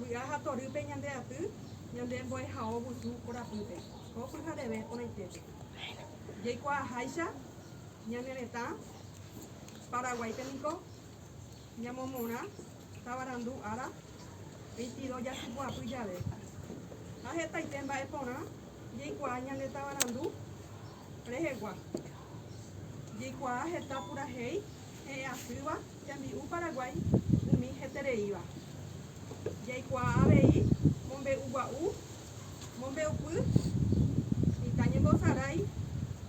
Vy'a ha torýpe ñande aty ñande mbo'ehao vusu korapýpe, ko pyhareve porãitépe. Jaikuaaháicha ñane retã Paraguáipe niko ñamomorã tavarandu ára veintidós jasypy'apy jave, ha hetaite mba'e porã jaikuaa ñande tavarandu rehegua. Jaikuaa heta purahéi he'ẽ asýva Tembi'u Paraguái umi hetereíva. Jaikuaa avei mombe'ugua'u, mombe'upy, mitã ñembosarái,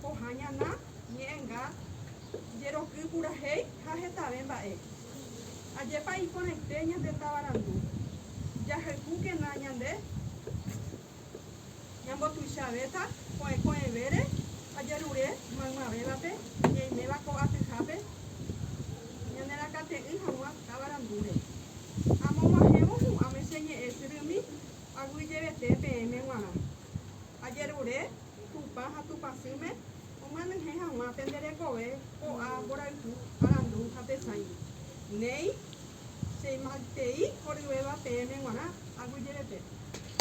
pohã ñana, ñe'ẽnga, jeroky purahéi ha hetave mba'e. Ajépa iporãite ñande tavarandu! Jahayhúkena ñande! Ñambotuichavéta ko'ẽ ko'ẽvére ajerure maymavévape ñaiméva ko atyhápe ñanerakate'ỹ hag̃ua táva randúre. Amog̃uahẽvo hu'ãme che ñe'ẽ syrými aguyjevete peẽme g̃uarã. Ajerure Tupã ha Tupãsýme omyenyhẽ hag̃ua pende rekove ko'ã mborayhu arandu ha tesãi. Néi, cheimaitei oryvéva peẽme g̃uarã aguyjevete.